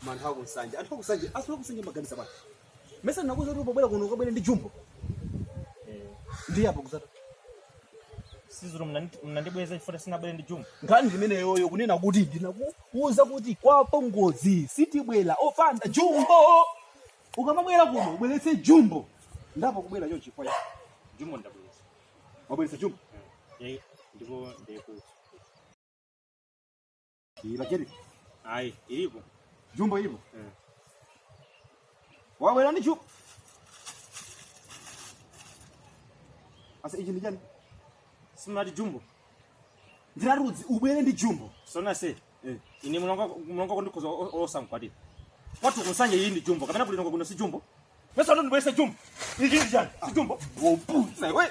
Koma anthu akunsanje, anthu akunsanje, anthu akunsanje mumaganiza bwana. Mesa ndinakuuza kuti pobwera kuno ukabwere ndi jumbo. Ndi apo kuzata. siziro munandibweza chifukwa sindinabwere ndi jumbo Nkhani imeneyoyo kunena kuti ndinakuuza kuti kwa apongozi sitibwera opanda jumbo. Ukamabwera kuno ubweretse jumbo. Ndapo kubwera chochi kwa. jumbo ndabweza Wabweretse jumbo. Eh, ndipo ndikuti Iyi bakiri. Ayi, ilipo. Jumbo ilipo. Eh. Wawe nani chup? Asa iji nijani? Simati jumbo. Ndira rudzi ubwere ndi jumbo. Sona se. Eh. Ini mulonga mulonga kondikoza olosa mkwati. Watu kusanje iyi ndi jumbo. Kapena kuli nonga kuno si jumbo. Pesa ndo ndibwese jumbo. Iji nijani? Si jumbo. Wopusa we.